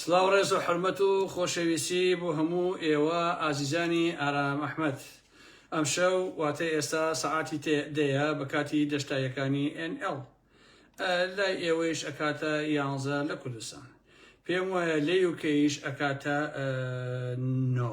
سلاو ڕێز و حرمەت و خۆشەویستی بۆ هەموو ئێوە ئازیزانی ئارام ئەحمد ئەم شەو واتە ئێستا سەعاتی دەیە بە کاتی دەشتایەکانی NL لای ئێوەیش ئەکاتە یانزە لە کوردستان پێم وایە لێ وکەیش ئەکاتە نۆ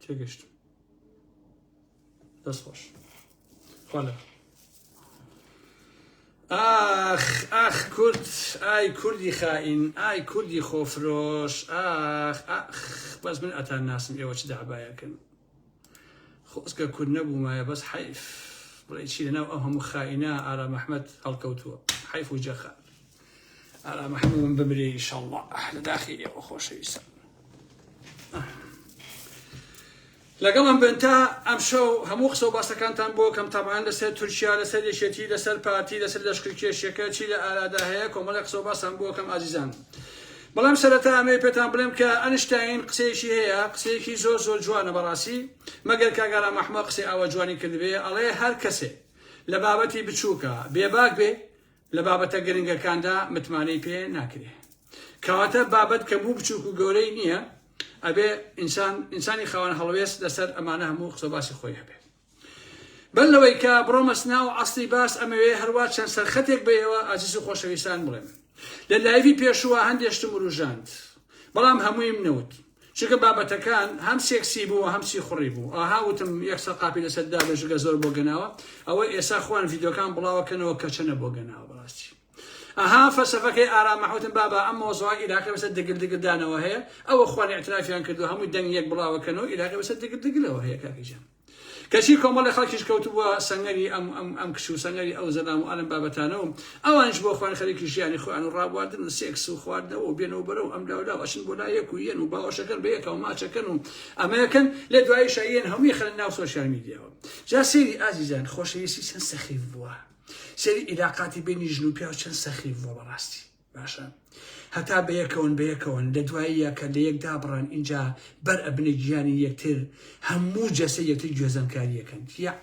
تێگەشتم دەست خۆش خۆلە ئاخ ئاخ کورد ئای کوردی خائین ئای کوردی خۆفرۆش ئاخ ئاخ بەس من ئەتان ناسم ئێوە چ دابایەکەن خۆزگە کورد نەبوومایە بەس حەیف بڵێ چی لەناو ئەو هەموو خائینە ئارام ئەحمەد هەڵکەوتووە حەیف و جەخە ئارام ئەحمەد من بمرێ ئیشەڵڵا لە داخی ئێوە خۆشەویستە لەگەڵ ئەم بنتا ئەم شەو هەموو قسە و باسەکانتان بۆ کەم تابان لەسەر تورکیا لەسەر یەکێتی لەسەر پارتی لەسەر لەشکرکێشیەکە چی لە ئارادا هەیە کۆمەڵی قسە و باسان بۆ کەم ئازیزان بەڵام سەرەتا ئەمەوێ پێتان بڵێم کە ئەنشتاین قسەیەکی هەیە قسەیەکی زۆر زۆر جوانە بەڕاسی مەگەر کاک ئارام ئەحمە قسەی ئاوا جوانی کردبێ ئەڵێ هەر کەسێ لە بابەتی بچووکە بێباک بێ لە بابەتە گرنگەکاندا متمانەی پێ ناکرێ کەواتە بابەت کە بوو بچووک و گەورەی نییە ئەبێ ئینسان ئینسانی خاوەن هەڵوێست لەسەر ئەمانە هەموو قسە باسی خۆی هەبێ بەر لەوەی کە بڕۆمە سناو و عەسڵی باس ئەمەوێ هەروا چەند سەرخەتێک بە ئێوە ئازیز و خۆشەویستان بڵێم لە لایڤی پێشووە هەندێ شتم وروژاند بەڵام هەموویم نەوت چونکە بابەتەکان هەم سێکسی بوو هەم سیخوڕی بوو ئاها وتم یەک سەقاپی لەسەر دابێژگە زۆر بۆ گەناوە ئەوە ئێسا خوان ڤیدۆکان بڵاوەکەنەوە کەچەنە بۆ گەناوە بەڕاستی ئەها فەلسەفەکەی ئارام مەحموتم بابا ئەم مۆزەوە ئیراقی بەسەر دگل دگل دانەوە هەیە ئەو ئەخوان اعترافیان کردو هەمووی دەنگ یەک بڵاوە کەن و ئیراقی بەسەر دگل دگلەوە هەیە کاکی جان کەچی کۆمەڵی خەڵکیش کەوتبووە سەنگەری ئەم ئەم ئەم کچ و سەنگەری ئەو زەلام و ئەلم بابەتانە و ئەوانش بۆ خوان خەریکی ژیانی خۆیان و ڕابواردن و سێکس و خواردنەوە و بێنەوە بەرەو ئەم لاو لاو ئەچن بۆ لا یەک و یەن و باوەشەکەن بە یەکەوە ماچەکەن و ئەمەکەن لێ دوایی شاییەن هەمووی خەن ناو سۆشیال میدیاوە جا سەیری ئازیزان خۆشەویستی چەند سەخیف بووە سەیری عیلاقاتی بینی ژن و پیاو چەند سەخیف بووە بەڕاستی باشە هەتا بەیەکەون بەیەکەون لە دوایی یەکە لە یەک دابڕان اینجا بەر ئەبنە گیانی یەکتر هەموو جەسە یەکتر گوێزەنکاریەکەن یا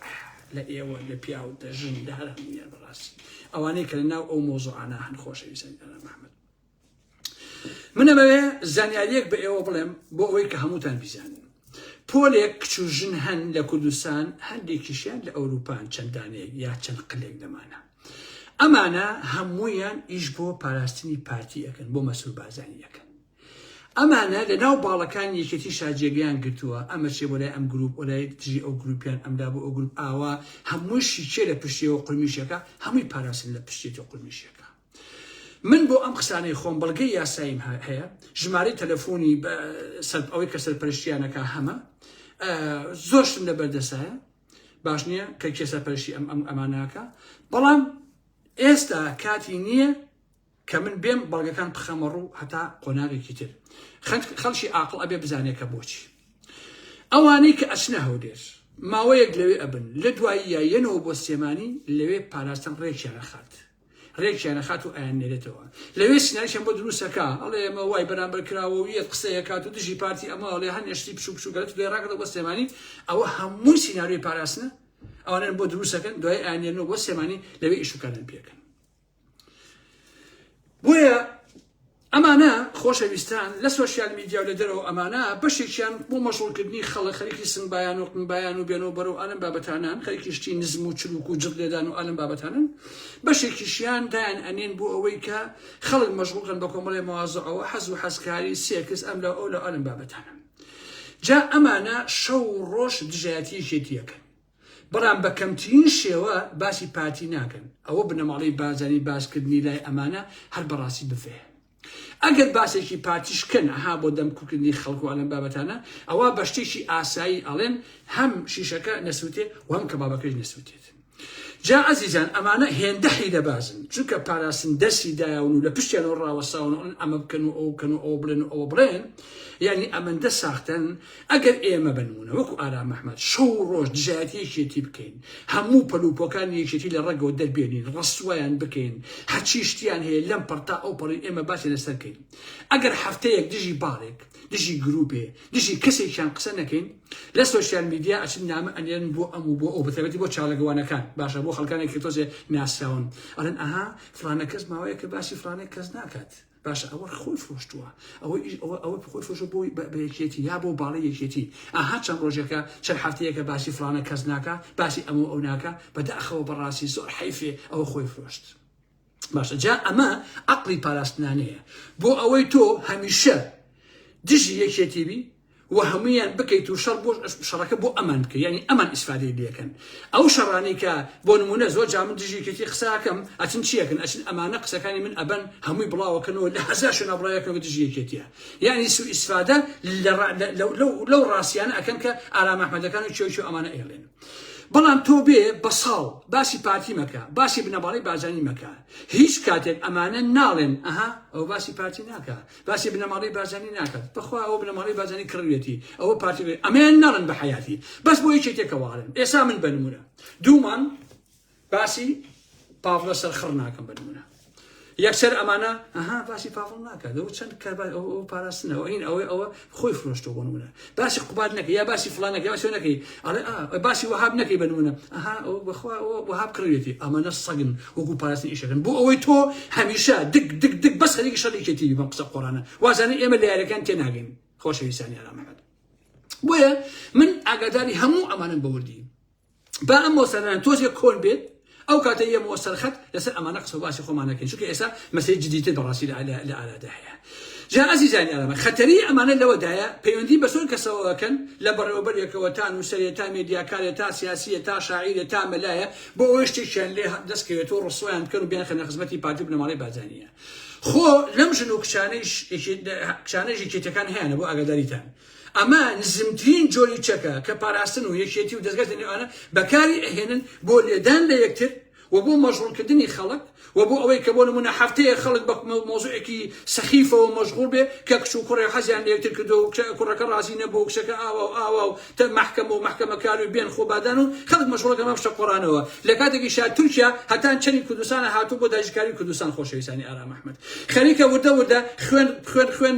لە ئێوە لە پیاو دە ژن لە هەر هەمویان بەڕاستی ئەوانەی کە لە ناو ئەو مۆزۆعانە هەن خۆشەویستن ئەرە محمد من ئەمەوێ زانیاریەک بە ئێوە بڵێم بۆ ئەوەی کە هەمووتان بیزانن پۆلێک کچ و ژن هەن لە کوردستان هەندێکیشیان لە ئەوروپان چەندانێک یا چەند قلێک دەمانە ئەمانە هەمویان ئیش بۆ پاراستنی پارتی ئەەکەن بۆ مەسور بازانی ئەەکەن ئەمانە لە ناو باڵەکان یەکێتی شاجێگەیان گرتووە ئەمە چێ بۆ لای ئەم گروپ ئۆلای دژی ئەو گروپیان ئەمدا بۆ ئەو گروپ ئاوا هەمووشی چێ لە پشتەوە قرمیشەکە هەمووی پاراستن لە پشتێتی قرمیشەکە من بۆ ئەم قسانەی خۆم بەڵگەی یاساییم هەیە ژمارەی تەلەفۆنی ئەوەی کە سەرپەرشتیانەکە هەمە زۆرشم لە بەردەسایە باش نییە کە کێ سەرپەرشی ئەم ئەم ئەماناکە بەڵام ئێستا کاتی نییە کە من بێم بەڵگەکان بخەمە ڕوو هەتا قۆناغێکی تر خەڵکی ئاقل ئەبێ بزانێکە بۆچی ئەوانەی کە ئەچنە هەودێر ماوەیەک لەوێ ئەبن لە دوایی یایەنەوە بۆ سێمانی لەوێ پاراستن ڕێکیانە خات رێکیان ئەخات و ئەیاننێرێتەوە لەوێ سیناریشیان بۆ دروست ئەکا ئەڵێ ئەمە وای بەرامبەر کراوە و یەت قسەی ئەکات و دژی پارتی ئەمە ئەڵێ هەنێ شتی بچووک بچووک گەلت دوێ ڕاگەڕێ بۆ سلێمانی ئەوە هەمووی سیناریۆی پاراستنە ئەوانن بۆ دروستەکەن دوای ئەیاننێرنەوە بۆ سلێمانی لەوێ ئیش و کاریان پێ ئەکەن بۆیە ئەمانە خۆشە ویستان لە سۆشیال میدیاو لە دەرەوە ئەمانە بەشێکیان بۆ مەشغوڵ کردنی خەڵک خەریکی سنگ بایان و قن بایان و بێنەوە بەرەو ئالەم بابەتانان خەریکی شتی نزم و چروک و جڕ لێدان و ئالەم بابەتانن بەشێکیشیان دایان ئەنێن بۆ ئەوەی کە خەڵک مەشغوڵ کەن بە کۆمەڵێ مەوازەعەوە حەز و حەزکاری سێکس ئەم لە ئەو لە ئالەم بابەتانە جا ئەمانە شەو و ڕۆژ دژایەتی یەکێتی یەکەن بەڵام بە کەمترین شێوە باسی پارتی ناکەن ئەوە بنەماڵەی بارزانی باس کردنی لای ئەمانە هەر بەڕاستی بڤەیە ئەگەر باسێکی پارتیش کەن ئەها بۆ دەم کوکردنی خەڵک و ئەلەم بابەتانە ئەوە بە شتێکی ئاسایی ئەڵێن هەم شیشەکە نەسووتێ و هەم کەبابەکەش نەسووتێت جا ئەزیزان ئەمانە هێندە حیلە بازن چونکە پاراستن دەرسی دایون و لە پشتیانەوە ڕاوەساون ئەمە بکەن و ئەو کەن و ئەو بڵێن و ئەوە بڵێن یعنی ئەمەندە ساختەن ئەگەر ئێمە بە نموونە وەکو ئارام ئەحمەد شەو و ڕۆژ دژایەتی یەکێتی بکەین، هەموو پەلوپۆکانی یەکێتی لە ڕەگەوە دەربێنین، ڕسوایان بکەین، هەرچی شتیان هەیە لەم پەڕ تا ئەو پەڕی ئێمە باسی لەسەر کەین. ئەگەر هەفتەیەک دژی باڵێک، دژی گرووپێ، دژی کەسێکیان قسە نەکەین، لە سۆشیال میدیا ئەچن نامە ئەنێرن بۆ ئەم و بۆ ئەو، بەتایبەتی بۆ چاڵەکوانەکان، باشە بۆ خەڵکانێک کە تۆزێ ناسراون ئەڵێن ئەها فڵانە کەس ماوەیەکە باسی فڵانە کەس ناکات. باشە ئەوە خۆی فرۆشتووە ئەوە ئیش ئەوە ئەوە خۆی فرۆشە بۆی بە بە یەکێتی یا بۆ باڵی یەکێتی ئاها چەند ڕۆژێکە چەند هەفتەیەکە باسی فلانە کەس ناکە باسی ئەمە و ئەو ناکە بەداخەوە بەڕاستی زۆر حەیفێ ئەوە خۆی فرۆشت باشە جا ئەمە عەقڵی پاراستنانەیە بۆ ئەوەی تۆ هەمیشە دژی یەکێتی بی و هەمویان بکەیت و شەڕ بۆ شەڕەکە بۆ ئەمان بکە یعنی ئەمان ئیسفادەی لەکەن ئەو شەڕانی کە بۆ نمونە زۆر جا من دژی کەکی قساکەم ئەچن چیەکەن ئەچن ئەمانە قسەکانی من ئەبەن هەمووی بڵاوەکەنەوە لە هەزار شوێنە بڵاوەکەن بە دژی یەکێتیە یعنی سو ئیسفادە لەو ڕاستیانە ئەکەن کە ئارام ئەحمەدەکان و چێوچێ ئەمانە ئێڵێن بەڵام تۆ بێ بە ساڵ باسی پارتی مەکە باسی بنەماڵی بازانی مەکە هیچ کاتێک ئەمانە ناڵێن ئەها ئەو باسی پارتی ناکە باسی بنەماڵەی بارزانی ناکات بەخوا ئەوە بنەماڵەی بارزانی کڕوێتی ئەوە پارتی بێ ئەمەیان ناڵن بە حیاتی بەس بۆ یەکێ تێکەوارن ئێسا من بنمونە دوومان باسی پاڤڵە سەرخڕ ناکەم بنمونە یەکسەر ئەمانە ئەها باسی پاڤڵ ناکات ئەو چەند کە ئەو پاراستنەوە این ئەوەی ئەوە خۆی فرۆشتەوە بۆ نمونە باسی قوباد نەکە یا باسی فلان نەکە باسی نەکەی ئەڵێ باسی وهاب نەکەی بە نمونە ئەها بەخوا وهاب کڕوێتی ئەمانە سەگن وەکو پاراستنی ئیشەکەن بۆ ئەوەی تۆ هەمیشە دک دک دک بەس خەریکی شەڕێکێتی بەم قسە قۆرانە وازانە ئێمە لە یارەکان تێناگەین خۆشەویستانی ئارامەکەت بۆیە من ئاگاداری هەموو ئەمانم بەوردی با ئەم مۆسەرەن تۆزێک کۆن بێت ئەو کاتە یە مۆ سەرخەت لەسەر ئەمانە قسە باسی خۆمانەکەین چونکە ئێستا مەسەی جدیتر بەڕاستی لە ئارادا هەیە جا ئازیزانی ئەمە خەتەری ئەمانە لەوەدایە پەیوەندی بە سۆر کەسەوەکەن لە بەڕێوەبەرێکەوە تا نووسەرێ تا مێدیاکارێ تا سیاسیە تا شاعیرێ تا مەلایە بۆ ئەوەی شتێکیان لێ دەستکەوێتەوە ڕسویان بکەن و بیان خەنە خزمەتی پارتی بنەماڵی بازانیە خۆ لەم ژن و کچانەیش کچانەیش یەکێتەکان هەیەە بۆ ئاگاداریتان ئەمە نزمترین جۆری چەکە کە پاراستن و یەکێتی و دەزگای تەنیوانە بەکاری ئەهێنن بۆ لێدان لە یەکتر و بۆ مەشغوڵ کردنی خەڵک و بۆ ئەوەی کە بۆ نموونە هەفتەیەک خەڵک بە مەوزوعێکی سەخیفەوە مەشغوڵ بێ کە کچ و کوڕێ حەزیان لە یەکتر کردووە و کچە کوڕەکە ڕازی نەبوو و کچەکە ئاوا و ئاوا و تە مەحکەمە و مەحکەمەکار و بێن خۆبادان و خەڵک مەشغوڵە کەمە پشە قۆڕانەوە لە کاتێکیشا تورکیا هەتان چەنی کوردستانە هاتوو بۆ داگیرکاری کوردستان خۆشەویستانی ئارام ئەحمەد خەریکە وردە وردە خوێن خوێن خوێن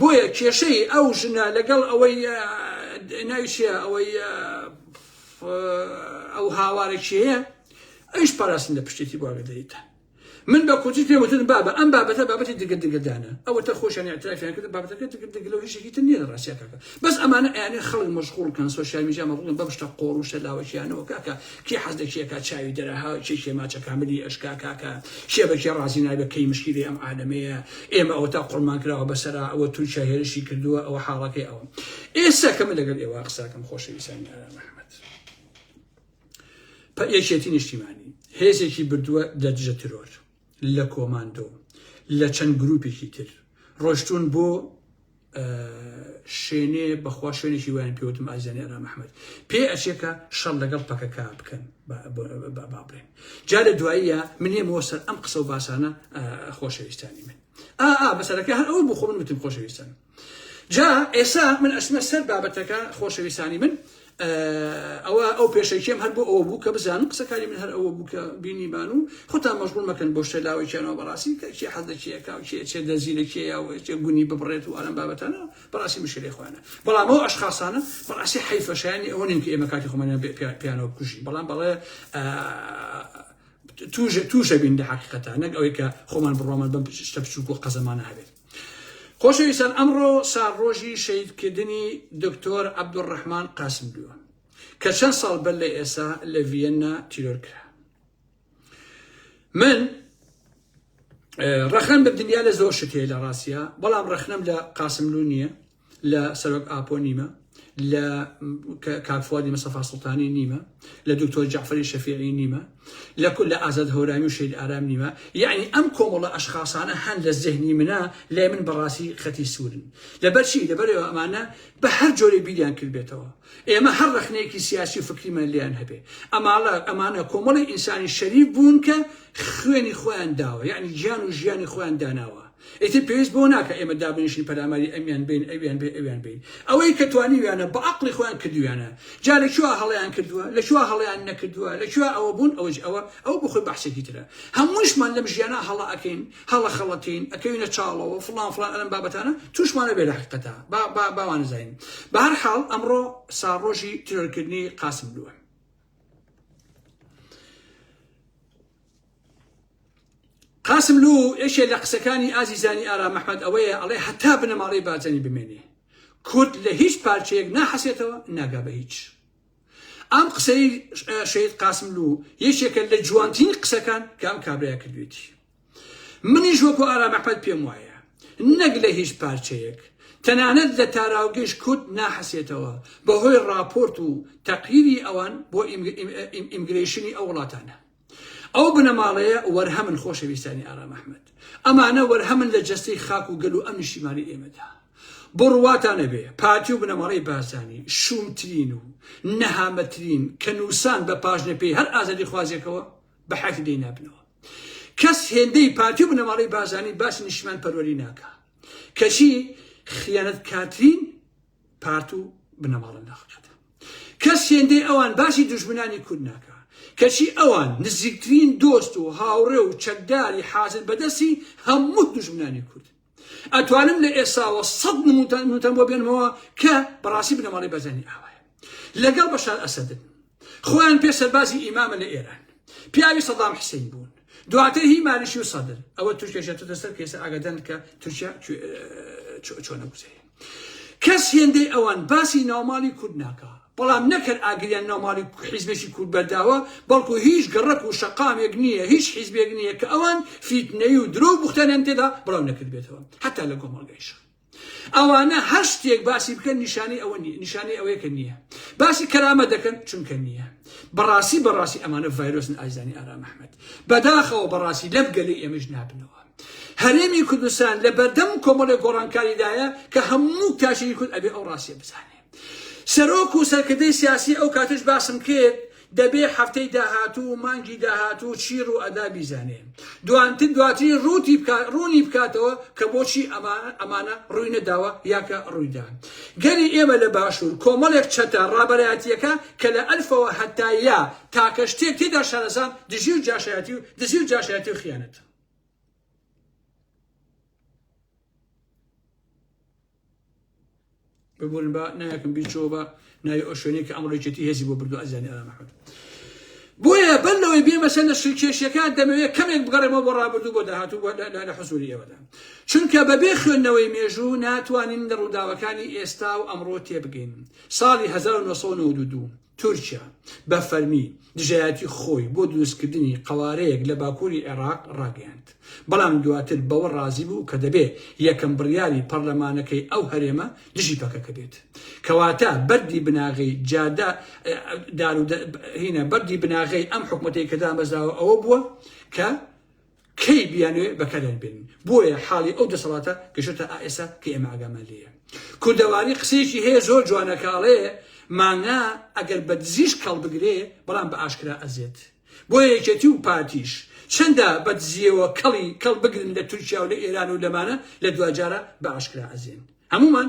بۆیە کێشەی ئەو ژنە لەگەڵ ئەوەی ناوی چیە ئەوەی ئەو هاوارە کێیە ئەیش پاراستن لە پشتێتی بواگەدەیتە من بە کوچی پێ وتن بابە ئەم بابەتە بابەتی دگە دگەدانە ئەوە تا خۆشیان اعترافیان کرد بابەتەکە دگە دگلو هیچێکی تر نیە ڕاستیەکەکە بەس ئەمانە ئەیانێ خەڵک مەشغوڵ کەن سۆشیال میدیا مەغڵن بەم شتە قۆڕ و شەلاوەکیانەوە کاکە کێ حەز دەکێ کا چاوی دەرە ها کێ کێ ماچە کاملی ئەشکا کاکە کێ بە کێ ڕازی نابێ کەی مشکیلی ئەم عالەمەیە ئێمە ئەوە تا قڕمان کراوە بەسەرا ئەوە تورکیا هێرشی کردووە ئەوە حاڵەکەی ئەوە ئێستا کە من لەگەل ئێوە قساکەم خۆشەویستانی ئارا محمد پە یەکێتی نیشتیمانی هێزێکی بردووە لە دژە ترۆر لە کۆماندۆ و لە چەند گروپێکی تر ڕۆشتوون بۆ شوێنێ بەخوا شوێنێکی وایان پێوتم ئازیانی ئەرام ئەحمد پێ ئەچێکە شەڕ لەگەڵ پەکەکە بکەن بابرێن جا لە دواییە منێمەوە سەر ئەم قسە و باسانە خۆشەویستانی من ئا بەسەرەکە هەر ئەوە بۆ خۆ من وتم خۆشەویستان جا ئێسا من ئەچمە سەر بابەتەکە خۆشەویستانی من ئەوە ئەو پێشەکیێم هەر بۆ ئەوە بوو کە بزانم قسەکاری من هەر ئەوە بوو کە بینی بان و خۆتان مەژغول مەکەن بۆ شتە لاوەکیانەوە بەڕاستی کە کێ حەز دەکیەکە و کێ چێ دەزی لە کێ یا وێتێ گونی ببڕێت و ئەلم بابەتانە بەڕاستی مشکلی خۆیانە بەڵام ئەو ئەشخاصانە بەڕاستی حیفەشانی ئەوە نین کە ئێمە کاتی خۆمانیان پیانەوە بکوژین بەڵام بەڵێ توژە توژە بین لە حقیقەتە نەک ئەوەی کە خۆمان بڕۆمان بەم شتە بچووک و قەزەمانە هەبێت خۆشەویستان ئەمڕۆ ساڕۆژی شەهیدکردنی دکتۆر عەبدولڕەحمان قاسملووە کە چەند ساڵ بەر لە ئێستا لە ڤیەننا تیرۆر کرا من ڕەخنەم بە دنیا لە زۆر شتێ لە ڕاستە بەڵام ڕەخنەم لە قاسملو نییە لە سەرۆک ئاپۆ نیمە لە کاک فوادی مەسەفا سڵتانی نیمە لە دکتۆر جعفری شەفیعی نیمە لە کل لە ئازاد هەورامی و شید ئارام نیمە یعنی ئەم کۆمەڵە ئەشخاصانە هەن لە زهنی منە لای من بەڕاستی خەتی سوورن لەبەرچی لەبەرەوە ئەمانە بە هەر جۆرە بیریان کردبێتەوە ئێمە هەر ڕخنەیەکی سیاسی و فکریمان لیان هەبێ ئەماڵە ئەمانە کۆمەڵی ئینسانی شەریف بوون کە خوێنی خۆیان داوە یعنی گیان و ژیانی خۆیان داناوە ئیتر پێویست بەوە ناکا ئێمە دابنیشین پەلاماری ئەمیان بەین ئەویان بەی ئەویان بەین ئەوەی کە توانیویانە بە ئەقڵی خۆیان کردویانە جا لە کوێوە هەڵەیان کردووە لە کوێوە هەڵەیان نەکردووە لە کوێوە ئەوە بوون ئەوەج ئەوە ئەوە بۆ خۆی بەحسێکی ترە هەمووشمان لەم ژیانا هەڵە ئەکەین هەڵە خەڵەتین ئەکەوینە چاڵەوە فڵان فڵان ئەلەم بابەتانە تووشمانە بێ لە حەقیقەتا با با باوانزین بە هەر حاڵ ئەمڕۆ ساڕۆژی ترۆرکردنی قاسملووە قاسملوو یەکێ لە قسەکانی ئازیزانی ئارام ئەحمەد ئەوەیە ئەڵێ هەتا بنەماڵەی بارزانی بمێنێ کورد لە هیچ پارچەیەک ناحەسێتەوە ناگا بە هیچ ئەم قسەی شەید قاسملوو یەکێکە لە جوانترین قسەکان کە ئەم کابرای کردوێتی منیش وەکو ئارام ئەحمەد پێم وایە نەک لە هیچ پارچەیەک تەنانەت لە تاراوگەش کورد ناحەسێتەوە بەهۆی ڕاپۆرت و تەقریری ئەوان بۆ ئیمگرەیشنی ئەو وڵاتانە ئەو بنەماڵەیە وەرهەمن خۆشەویستانی ئارام ئەحمەد. ئەمانە وەرهەمن لە جەستەی خاک و گەل و ئەم نیشتیمانەی ئێمەدا. بۆ ڕوواتان نەبێ پارتی و بنەماڵەی بارزانی شوومترین و نەهامەترین کە نووسان بە پاژنەپێی هەر ئازادیخوازێکەوە بە حەیاتی دەینابنەوە. کەس هێندەی پارتی و بنەماڵەی بارزانی باسی نیشتیمانپەروەری ناکا. کەچی خیانەتکارترین پارت و بنەماڵە ناخناتە کەس هێندەی ئەوان باسی دوژمنانی کورد ناکە کەچی ئەوان نزیکترین دۆست و هاوڕێ و چەکداری حازر بەدەستی هەموو دوژمنانی کورد ئەتوانم لە ئێساوە سەد نمونتان نوتەم بۆ بێنمەوە کە بەڕاستی بنەماڵی بەزەنی ئاوایە لەگەڵ بەشار ئەسەدن خۆیان پێ سەربازی ئیمامە لە ئێران پیاوی سەدام حسین بوون دواتر هی مالیشی و سەدر ئەوە تورکیا ژێتە سەر کێسە ئاگادان کە تورکیا چۆنە گوزەیە کەس هێندەی ئەوان باسی ناوماڵی کورد ناکە بەڵام نەکرد ئاگریان ناوماڵی حیزبێکی کورد بەرداوە بەڵکو هیچ گەڕک و شەقامێک نییە هیچ حیزبێک نییە کە ئەوان فیتنەی و درۆ بختانیان تێدا بڵاو نەکردبێتەوە حتا لە گۆمەڵگەیشە ئەوانە هەر شتێک باسی بکەن نیشانەی ئەوە نیە نیشانەی ئەوەیە کە نیە باسی کەرامە دەکەن چونکە نیە بەڕاستی بەڕاستی ئەمانە ڤایرۆسن ئایزانی ئارام ئەحمەد بەداخەوە بەڕاستی لەم گەلی ئێمەش نابنەوە هەرێمی کوردستان لە بەردەم کۆمەڵی گۆڕانکاریدایە کە هەموو تاشێکی کورد ئەبێ ئەو ڕاستیە بزانێ سەرۆک و سەرکردەی سیاسی ئەو کاتش باسم کرد دەبێ هەفتەی داهاتوو و مانگی داهاتوو چی ڕوو ئەدا بیزانێ دوانتر دواتری ڕووتی بکا ڕوونی بکاتەوە کە بۆچی ئەما ئەمانە ڕووی نەداوە یاکە ڕوویدا گەلی ئێمە لە باشوور کۆمەڵێک چەتە ڕابەرایەتیەکە کە لە ئەلفەوە هەتا یا تاکە شتێک تێدا شارەزان دژی و جاشایەتی و دزی و جاشایەتی و خیانەت ببورن با نایەکم بیرچەوە بە ناوی ئەو شوێنەی کە ئەمڕۆ یەکێتی هێزی بۆ بردو ئەزیانی ئارام ئەحمەد بۆیە بەر لەوەی بێمە سەر لە شکێشیەکان دەمەوێت کەمێک بگەڕێمەوە بۆ ڕابردوو بۆ داهاتوو بۆ لە حزوری ئێوەدا چونکە بەبێ خوێندنەوەی مێژوو ناتوانین لە ڕووداوەکانی ئێستا و ئەمڕۆ تێبگەین ساڵی 1992 تورکیا بە فەرمی دژایەتی خۆی بۆ دروستکردنی قەوارەیەک لە باکووری عێراق ڕاگەیاند، بەڵام دواتر بەوە ڕازی بوو کە دەبێ یەکەم بڕیاری پەڕلەمانەکەی ئەو هەرێمە دژی پەکەکە بێت. کەواتە بەردی بناغەی جادە دارو دە هینە بەردی بناغەی ئەم حکومەتەی کە دامەزراوە ئەوە بووە کە کەی بیانوێ بەکاریان بێنن بۆیە حاڵی ئەو دەسەڵاتە گەشتە ئائسا کە ئێمە ئاگامان لێە کوردەواری قسەیەکی هەیە زۆر جوانەکاڵێ مانگا ئەگەر بە دزیش کەڵ بگرێ بەڵام بە ئاشکرا ئەزێت بۆ یەکێتی و پارتیش چەندە بە دزیەوە کەڵی کەڵ بگرن لە تورکیا و لە ئێران و لەمانە لە دواجارە بە ئاشکرا ئەزێن هەمومان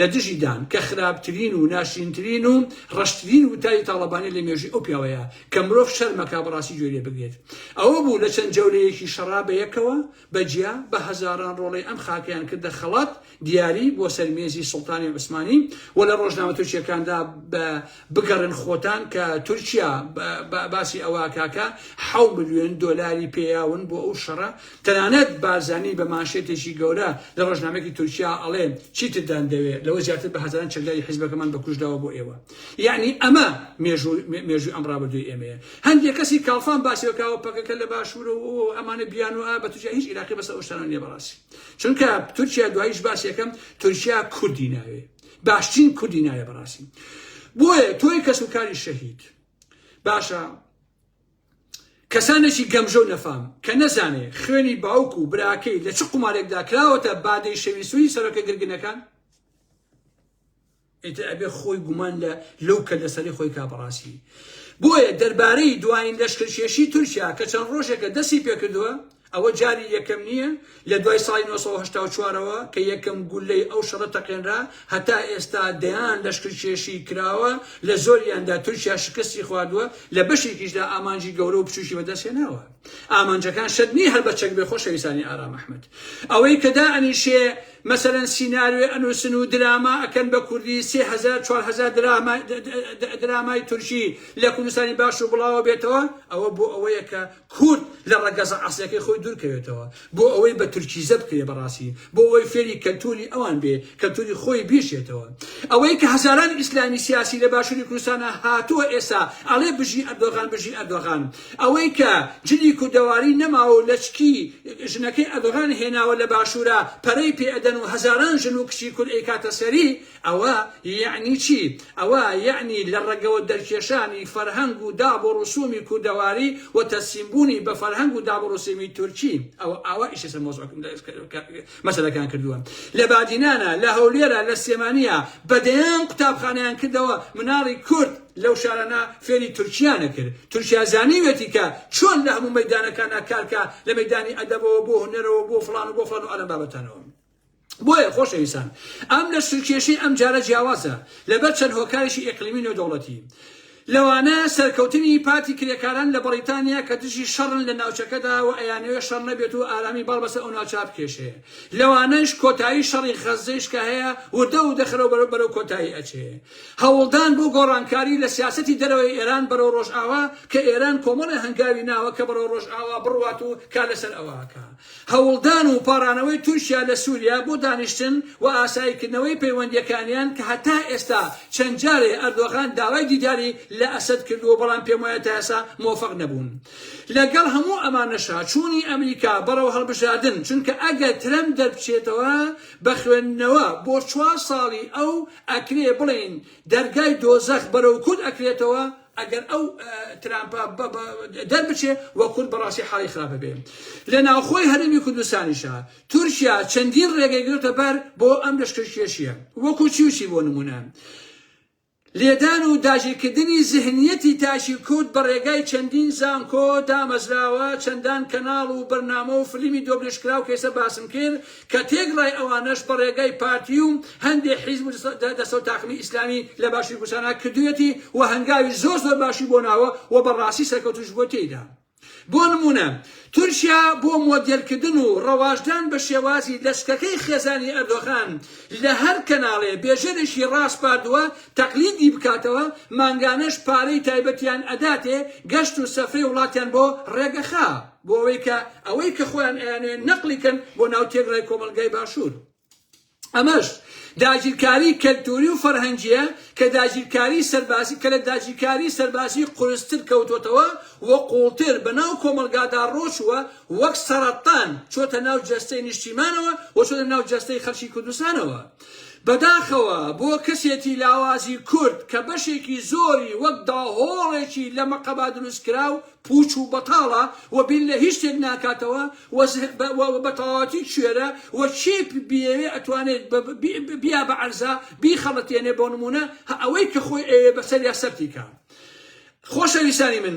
لە دژی دان، کە خراپترین و ناشرینترین و ڕەشترین وتاری تاڵەبانی لە مێژووی ئەو پیاوەیە، کە مرۆڤ شەرمەکا بەڕاستی گوێی لێ بگرێت. ئەوە بوو لە چەند جەولەیەکی شەڕا بەیەکەوە، بە جیا، بە هەزاران ڕۆڵەی ئەم خاکەیان کردە خەڵات، دیاری، بۆ سەر مێزی سوڵتانی عوسمانی و لە ڕۆژنامە تورکییەکاندا بە، بگەڕێن خۆتان کە تورکیا باسی ئەوەکاکە حەو ملیۆن دۆلاری پێیاون بۆ ئەو شەڕە تەنانەت بارزانی بە ماشێتێکی گەورە لە ڕۆژنامێکی تورکیا ئەڵێ چیتدان دەوێت لەوە زیاتر بە هەزاران چەکداری حیزبەکەمان بەکوشداوە بۆ ئێوە یعنی ئەمە مێژووی ئەم ڕابردووی ئێمەیە هەندێک کەسی کاڵفان باسیەکەوە پەکەکە لە باشوورە و ئەمانە بیان و بە تورکیا هیچ عراقی بەسە ئەوشتانە نیە بەڕاستی چونکە تورکیا دوایش باسیەکەم تورکیا کوردی ناوێت باشترین کوردی نایە بەڕاستی بۆیە تۆی کەس و کاری شەهید باشە کەسانێکی گەمژە و نەفام کە نەزانێ خوێنی باوک و براکەی لە چ قومارێکدا کراوەتە بادەی شەویسوی سەرەکە گرگنەکان ئیتر ئەبێ خۆی گومان لە لەو کە لەسەری خۆی کا بەڕاستی بۆیە دەربارەی دوایین لەشکرکێشی تورکیا کە چەند ڕۆژێکە دەستی پێکردووە ئەوە جاری یەکەم نییە لە دوای ساڵی نۆ سەد و هەشتا و چوار ەوە کە یەکەم گوللەی ئەو شەڕە تەقێنرا، هەتا ئێستا دەیان لەشکرکێشی کراوە، لە زۆریاندا تورکیا شکستی خواردووە، لە بەشێکیشدا ئامانجی گەورە و بچووکی بەدەستهێناوە. ئامانجەکان شەرت نییە هەر بە چەک بێ خۆشەویستانی ئارام ئەحمەد. ئەوەی کە دائەنیشێ مەسەلەن سیناریۆ ئەنووسن و دراما ئەکەن بە کوردی، سێ هەزار چوار هەزار درامای تورکی لە کوردستانی باشوور بڵاوەبێتەوە، ئەوە بۆ ئەوەیە کە کورد لە ڕەگەزە ئەسڵیەکەی خۆی دوور کەوێتەوە بۆ ئەوەی بە تورکیزە بکرێ بەڕاستی بۆ ئەوەی فێری کەلتوری ئەوان بێ کەلتوری خۆی بیشێتەوە ئەوەی کە هەزاران ئیسلامی سیاسی لە باشوری کوردستانە هاتووە ئێسا ئەڵێ بژی ئەردۆغان بژی ئەردۆغان ئەوەی کە جلی کوردەواری نەماوە و لەچکی ژنەکەی ئەردۆغان هێناوە لە باشورە پەرەی پێ ئەدەن و هەزاران ژن و کچی کورد ئەیکاتە سەری ئەوە یەعنی چی؟ ئەوە یەعنی لە ڕەگەوە دەرکێشانی فەرهەنگ و داب و ڕسوومی کوردەواری و تەسلیم بوونی بە فەرهەنگ و داب و ڕسوومی تورکی. ئەوە ئاوا ئیش لەسەر مەوزووع مەسەلەکان کردووە. لە بادینانە، لە هەولێرە، لە سلێمانییە، بە دەیان قوتابخانەیان کردەوە، مناڵی کورد لەو شارانە فێری تورکییانە کرد. تورکیا زانیوێتی کە چۆن لە هەموو مەیدانەکانا کار کا، لە مەیدانی ئەدەبەوە بۆ هونەرەوە بۆ فڵان و بۆ فڵان و ئالان بابەتانەوە. بۆیە خۆشەویستان ئەم لە سورکێشی ئەم جارە جیاوازە لەبەر چەند هۆکارێکی ئیقلیمی نێودەوڵەتی لەوانە سەرکەوتنی پارتی کرێکاران لە بەڕیتانیا کە دژی شەڕن لە ناوچەکەدا و ئەیانەوێ شەڕ نەبێت و ئارامی باڵ بەسەر ئەو ناوچە بکێشێ لەوانەش کۆتایی شەڕی غەززەیش کە هەیە وردە و دەخەرەوە بەرەو بەرەو کۆتایی ئەچێ هەوڵدان بۆ گۆڕانکاری لە سیاسەتی دەرەوەی ئێران بەرەو ڕۆژئاوا کە ئێران کۆمەڵێ هەنگاوی ناوە کە بەرەو ڕۆژئاوا بڕوات و کار لەسەر ئەوە ئەکا هەوڵدان و پاڕانەوەی تورکیا لە سوریا بۆ دانیشتن و ئاساییکردنەوەی پەیوەندییەکانیان کە هەتا ئێستا چەند جارێ ئەردۆغان داوای دیداری لە ئەسەد کردووە بەڵام پێموایە تا ئێستا مۆفەق نەبوون لەگەڵ هەموو ئەمانەشا چوونی ئەمریکا بەڕەو هەڵبژاردن چونکە ئەگەر ترەمپ دەربچێتەوە بە خوێندنەوە بۆ چوار ساڵی ئەو ئەکرێ بڵێین دەرگای دۆزەخ بەرەو کورد ئەکرێتەوە ئەگەر ئەو ترامپە دەربچێ وە کورد بەڕاستی حاڵی خراپە بێ لە ناوخۆی هەرێمی کوردستانیشە تورکیا چەندین ڕێگەی گرتە بەر بۆ ئەم لەشکرکێشیە وەکو چیوچی بۆ نمونە لێدان و داژیکردنی زهنیەتی تاشی کورد بە ڕێگای چەندین زانکۆ دامەزراوە چەندان کەناڵ و بەرنامە و فلیمی دۆبلشکراو کەیسە باسم کرد کە تێکڕای ئەوانەش بە ڕێگای پارتی و هەندێ حیزب و دەستەو تاقمی ئیسلامی لە باشووری کوردستانا کردوویەتی و هەنگاوی زۆر زۆر باشی بۆ ناوە و بە ڕاستی سەرکەوتووش بووە تێیدا. بۆ نموونە تورکیا بۆ مۆدێلکردن و ڕەواجدان بە شێوازی لەچکەکەی خێزانی ئەردۆغان لە هەر کەناڵێ بێژەرێکی ڕاسپاردووە تەقلیدی بکاتەوە، مانگانەش پارەی تایبەتیان ئەداتێ گەشت و سەفرەی وڵاتیان بۆ ڕێگەخا. بۆ ئەوەی کە ئەوەی کە خۆیان ئەیانەوێت نەقلی کەن بۆ ناو تێکرای کۆمەڵگای باشوور. ئەمەش داگیرکاری کەلتوری و فەرهەنگییە کە داگیرکاری سەربازی کە لە داگیرکاری سەربازی قورستر کەوتۆتەوە و قووڵتر بە ناو کۆمەڵگادا ڕۆچووە وەک سەڕەتان چۆتە ناو جەستەی نیشتیمانەوە و چۆتە ناو جەستەی خەلکی کوردستانەوە. بەداخەوە بۆ کەسێتی لاوازی کورد کە بەشێکی زۆری وەک داهۆڵێکی لە مەقەبا دروست کراو پوچ و بەتاڵە و بیر لە هیچ شتێک ناکاتەوە و و بە تەواوەتی کوێرە و کێ بیەوێ ئەتوانێت بیا بە عەرزا بیخەڵەتێنێ بۆ نمونە ئەوەی کە خۆی ئەوێ بەسەر یا سەرتی کا خۆشەویستانی من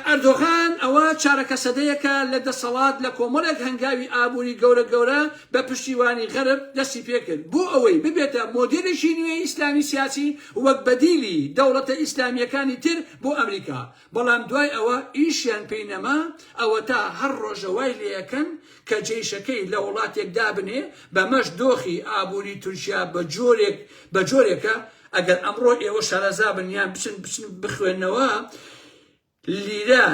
ئەردۆغان ئەوە چارەکە سەدەیەکە لە دەسەڵات لە کۆمەڵێک هەنگاوی ئابووری گەورە گەورە بە پشتیوانی غەرب دەستی پێکرد بۆ ئەوەی ببێتە مۆدیلێکی نوێی ئیسلامی سیاسی وەک بەدیلی دەوڵەتە ئیسلامیەکانی تر بۆ ئەمریکا بەڵام دوای ئەوە ئیشیان پێی نەما، ئەوەتا هەر ڕۆژە وای لێئەکەن کە جەیشەکەی لە وڵاتێک دابنێ، بەمەش دۆخی ئابووری تورکیا بە جۆرێک بە جۆرێکە، ئەگەر ئەمڕۆ ئێوە شارەزابن یان بچن بچن بخوێننەوە لیرە،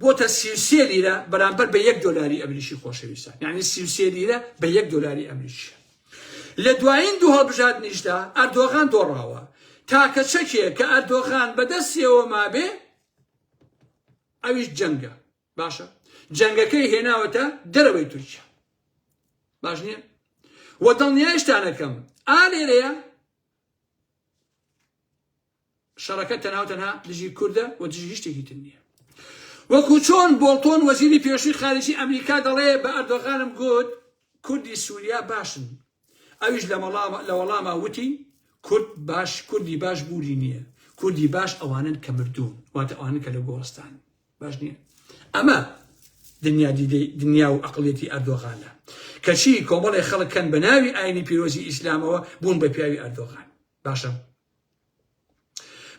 بۆتە سی و سێ لیرە بەرامبەر بە یەک دۆلاری ئەمریکی خۆشەویستان یعنی سی و سێ لیرە بە یەک دۆلاری ئەمریکیە لە دوایین دوو هەڵبژاردنیشدا ئەردۆغان دۆڕاوە تاکە چەکێ کە ئەردۆغان بەدەستیەوە مابێ ئەویش جەنگە باشە جەنگەکەی هێناوەتە دەرەوەی تورکیا باش نییە وە دڵنیایشتانەکەم ئالێرەیە شەڕەکە تەنها و تەنها دژی کوردە و دژی هیچ شتێکی تر نییە. وەکو چۆن بۆڵتۆن وەزیری پێشووی خارجی ئەمریکا دەڵێ بە ئەردۆغانم گوت کوردی سوریا باشن ئەویش لە مەڵاما لە وەڵاما وتی کورد باش کوردی باش بوری نییە کوردی باش ئەوانن کە مردوون واتە ئەوانن کە لە گۆڕستان باش نییە ئەمە دنیا دیدەی دنیا و ئەقلێتی ئەردۆغانە کەچی کۆمەڵی خەڵکەن بە ناوی ئاینی پیرۆزی ئیسلامەوە بوون بە پیاوی ئەردۆغان باشە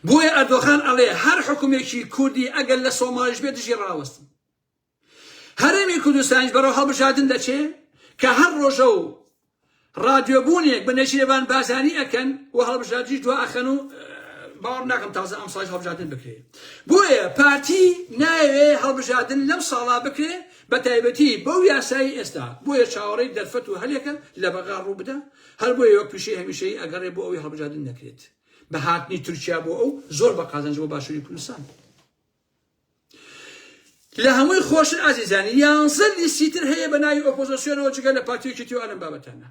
بۆیە ئەردۆغان ئەڵێ هەر حوکمێکی کوردی ئەگەر لە سۆماڵیش بێ دژی ڕاوەستن هەرێمی کوردستانیش بەرەو هەڵبژاردن دەچێ کە هەر ڕۆژە و ڕادیۆبوونێک بە نەشیرەبان بازانی ئەکەن و هەڵبژاردنیش دو ئەخەن و باوەڕ ناکەم تازە ئەم ساڵ هەڵبژاردن بکرێ بۆیە پارتی ناوێ هەڵبژاردن لەم ساڵا بکرێ بە تایبەتی بەو یاسایی ئێستا بۆیە چاوەڕێی دەرفەت و هەلێکە لە بەغا ڕوو بدە هەر بۆیە وەک پیشەی هەمیشەیی ئەگەڕێ بۆ ئەوەی هەڵبژاردن نەکرێت بە هاتنی تورکیا بۆ ئەو زۆر بە قازانج بۆ باشووری کوردستان لە هەمووی خۆشتر ئازیزانی یانزە لیستی تر هەیە بە ناوی ئۆپۆزۆسیۆنەوە جگە لە پارتیەکی تیو ئەلم بابەتانە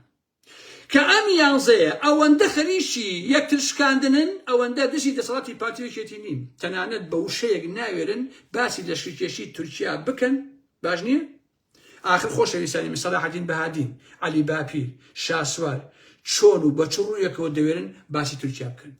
کە ئەم یانزەیە ئەوەندە خەریکی یەکتر شکاندنن ئەوەندە دژی دەسەڵاتی پارتیەکێتی نین تەنانەت بە وشەیەک ناوێرن باسی لەشکرکێشی تورکیا بکەن باش نییە ئاخر خۆشەویستانی من سەلاحەدین بەهادین، عەلی باپیر، شاسوار چۆن و بە چ ڕوویەکەوە دەوێرن باسی تورکیا بکەن؟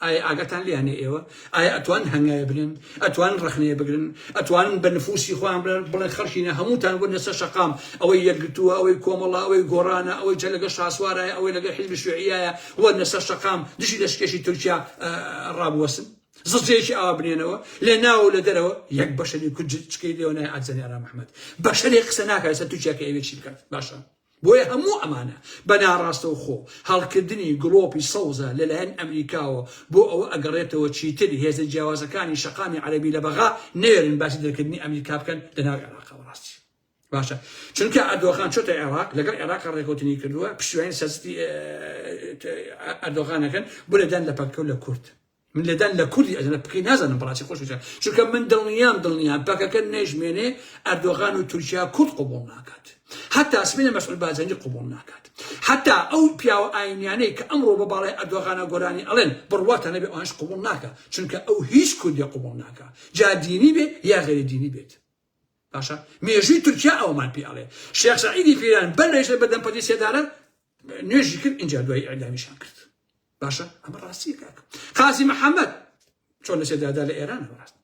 ئایا ئاگاتان لێیانە ئێوە؟ ئایا ئەتوانن هەنگاوێ بنێن؟ ئەتوانن ڕەخنەیە بگرن؟ ئەتوانن بە نفووسی خۆیان بڵێن بڵێن خەڵکینە هەمووتان بوونە سەر شەقام، ئەوەی یەکگرتووە، ئەوەی کۆمەڵە، ئەوەی گۆڕانە، ئەوەی جە لەگەڵ شاسوارایە، ئەوەی لەگەڵ حیزبی شووعییایە، وەرنە سەر شەقام، دژی لەشکێشی تورکیا ڕابوەستن؟ زجەیەکی ئاوا بنێنەوە لە ناو لە دەرەوە یەک بەشەری کورد چکەی لێوە نای ئەزەنی ئارام محمد بەشەری قسە ناکە لەسەر تورکیا کە ئەوێ چی بکات باشە بۆیە هەموو ئەمانە بە ناڕاستەوە خۆ هەڵکردنی گڵۆپی سەوزە لەلایەن ئەمریکاوە بۆ ئەوە ئەگەڕێتەوە چیتر هێزە جیاوازەکانی شەقامی عەربی لە بەغا نەوێرن باسی دەرکردنی ئەمریکا بکەن لە ناو عێراقەوە ڕاستی باشە چونکە ئەردۆغان چۆتە عێراق لەگەڵ عێراق ڕێکوتنی کردووە پشتیوانی سەستی ئەردۆغانەکەن بۆ لەدان لە پەکە و لە کورد من لەدان لە کوردی ئەزنە بکەی نازانم بەڕاستی خۆش بچە چونکە من دڵنیام دڵنیام پەکەکە نەژمێنێ ئەردۆغان و تورکیا کورد قوبڵ ناکات حتا سمینە مەسعود بازەنی قوبڵ ناکات حتا ئەو پیاوە ئاینیانەی کە ئەمڕۆ بە باڵی ئەردۆغانە گۆرانی ئەڵێن بڕواتە نەبێ ئەوانش قوبڵ ناکە چونکە ئەو هیچ کوردی قوبڵ ناکە جا دینی بێت یا غێری دینی بێت باشە مێژووی تورکیا ئەومان پێ ئەڵێ شێخ سعیدی پیران بەر لەیش بەدەم پەتی سێدارە نوێژی کرد اینجا دوای ئەدامیشان کرد باشە ئەمە ڕاستی کاکە قازی محەممەد چۆن لە سێدادا لە ئێران ڕاست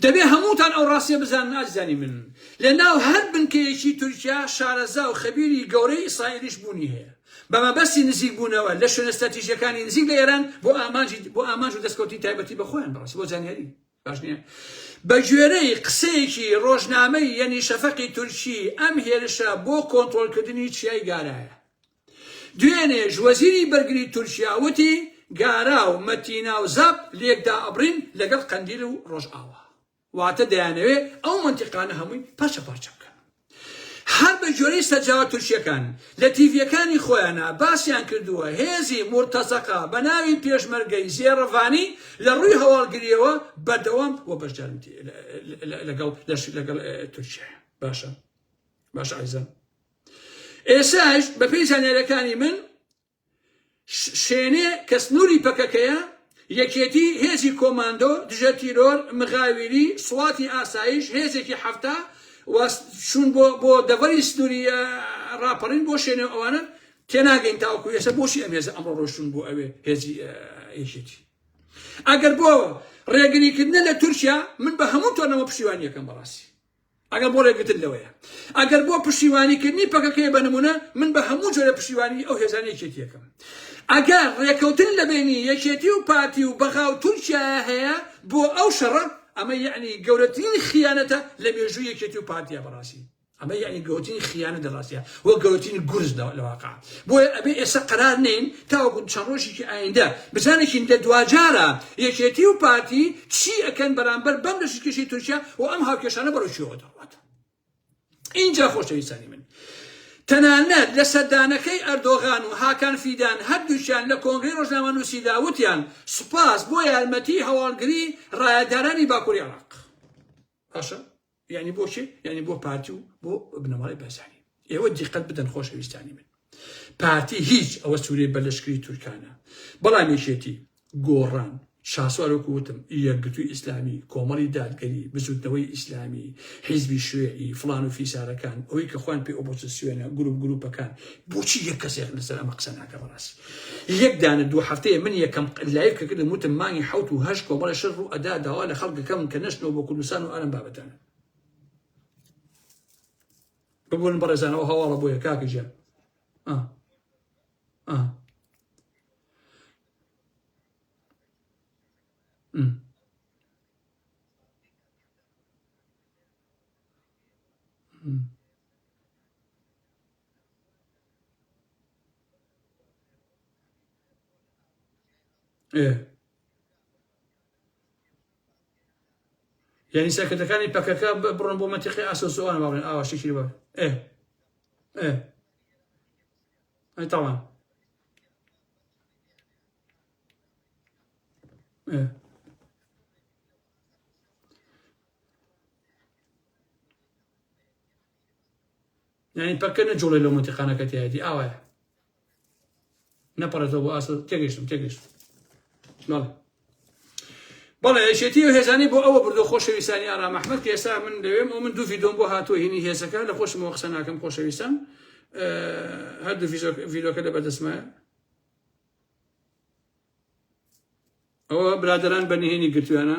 دەبێ هەمووتان ئەو ڕاستیە بزان نازانی من لە ناو هەر بنکەیەکی تورکیا شارەزا و خەبیری گەورەی ئیسرائیلیش بوونی هەیە بە مەبەستی نزیک بوونەوە لە شوێنە ستراتیژییەکانی نزیک لە ئێران بۆ ئامانجی بۆ ئامانج و دەستکەوتنی تایبەتی بە خۆیان بەڕاستی بۆ زانیاری باش نییە بە گوێرەی قسەیەکی ڕۆژنامەی یەنی شەفەقی تورکی ئەم هێرشە بۆ کۆنتترۆلکردنی چیای گارایە دوێنێش وەزیری بەرگری تورکیا وتی گارا و مەتینا و زەپ لێکدا ئەبرین لەگەڵ قەندیل و ڕۆژئاوا واتە دەیانەوێ ئەو مەنتیقانە هەمووی پارچە پارچە بکەن. هەر بە گوێرەی سەرچاوە تورکییەکان، لە تیڤییەکانی خۆیانا باسیان کردووە، هێزی مورتەزەقە بە ناوی پێشمەرگەی زێڕڤانی لە ڕووی هەواڵگرییەوە بەردەوام و بەشدارن لەگەڵ لەش لەگەڵ تورکیایە. باشە باشە ئازیزان. ئێساش بەپێی زانیارییەکانی من شێنێ کە سنووری پەکەکەیە، یەکێتی، هێزی کۆماندۆ، دژە تیرۆر، مغاویری، سواتی ئاسایش، هێزێکی حەفتا و چوون بۆ بۆ دەڤەری سنووری ڕاپەڕین بۆ شێنێ و ئەوانە تێناگەین تاوەکو ئێستا بۆچی ئەم هێزە ئەمڕۆ ڕۆشتون بۆ ئەوێ هێزی یەکێتی ئەگەر بۆ ڕێگریکردنە لە تورکیا من بە هەموو تۆنەوە پشتیوانیەکەم بەڕاستی ئەگەر بۆ ڕێگرتن لەوەیە ئەگەر بۆ پشتیوانیکردنی پەکەکەیە بە نمونە من بە هەموو جۆرە پشتیوانی ئەو هێزانی یەکێتیەکەم ئەگەر ڕێکەوتن لە بینی یەکێتی و پارتی و بەغا و تورکیا هەیە بۆ ئەو شەڕە ئەمە یعنی گەورەترین خیانەتە لە مێژوو یەکێتی و پارتیا بەڕاستی ئەمە یعنی گەورەترین خیانە دەڕاستە وە گەورەترین گورز لە واقع بۆیە ئەبێ ئێستا قەرار نێین تاوەکو چەند ڕۆژێکی ئایندە بزانێکین لە دواجارە یەکێتی و پارتی چی ئەکەن بەرامبەر بەم لەشی کێشەی تورکیا و ئەم هاوکێشانە بەرەو کوێوە دەڕوات ئینجا خۆشەویستانی من تەنانەت لە سەردانەکەی ئەردۆغان و هاکان فیدان هەردووکیان لە کۆنگرەی ڕۆژنامەنووسیدا وتیان سوپاس بۆ یارمەتی هەواڵگری ڕایەدارانی باکووری عێراق باشە یعنی بۆ کێ یعنی بۆ پارتی و بۆ بنەماڵی بەرزانی ئێوە دیقەت بدەن خۆشەویستانی من پارتی هیچ ئەوە سوورەی بەلشکری تورکانە بەڵام یەکێتی گۆڕان شاسوارۆکو وتم یەکگرتووی ئیسلامی کۆمەڵی دادگەری بزوتنەوەی ئیسلامی حیزبی شوێعی فلان و فیسارەکان ئەوەی کە خوان پێ ئۆپۆزیسیۆنە گروپ گروپەکان بۆچی یەک کەسێک لەسەر ئەمە قسە ناکە بەڕاستی یەک دانە دوو هەفتەیە من یەکەم لایڤ کە کردم وتم مانگی حەوت و هەشت کۆمەڵە شەر ڕوو ئەدا داوا لە خەڵک دەکەم کە نەشتنەوە بۆ کوردستان و ئەم بابەتانە ببوون بەڕێزانەوە هەواڵە بۆیە کاکە جان یعنی سەرکردەکانی پەکەکە بڕۆن بۆ مەتیقی ئاسۆسوان باڵێن ئاوا شتێکی بە ئێ ئێ تاوان یانی پەککە نەجوڵێ لەو مەنتیقانە کە تیایەتی ئاوایە نەپەڕێتەوە بۆ ئاسە تێگەشتم تێگەشتم بەڵێ بەڵێ ئەشێتی و هێزانی بۆ ئەوە بردو خۆشەویستانی ئارام ئەحمد کە ئێستا من دەوێم و من دوو ڤیدۆم بۆ هاتووە هینی هێزەکە لە خۆشمەوە قسە ناکەم خۆشەویستان هەردوو ڤیدۆکە لە بەدەستمایە ئەوە برادران بە نهێنی گرتویانە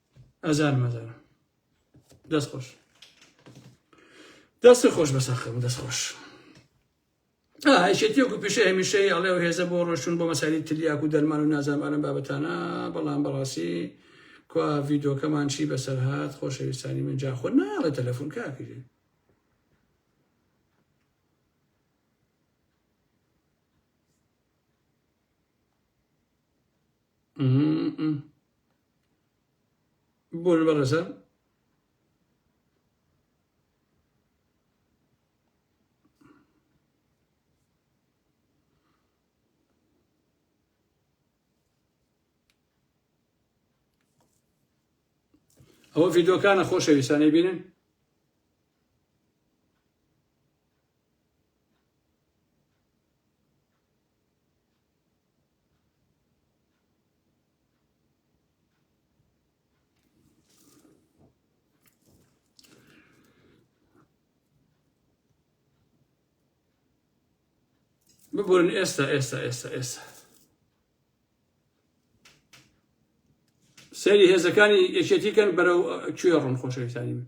ئەزانم ئەزانم دەست خۆش دەست خۆش بەسەخم دەست خۆش هایشێتیەکو پیشە هەمیشەی ئەڵێ و هێزە بۆ ڕۆشتون بۆ مەساری تلیاک و دەرمان و نازانمانم بابەتانە بەڵام بەڕاستی کوا ڤیدۆکەمان چی بەسەر هاات خۆشەویستانی من جا خۆ ناڵە تەلەفۆن کاکرێ بۆن بەڕێزە ئەوە ڤیدۆکانە خۆشەویستانەی بینن ببورن ئێستا ئێستا ئێستا ئێستا سەری هێزەکانی یەکێتی کەن بەرەو کوێ ڕوون خۆشەویستانی من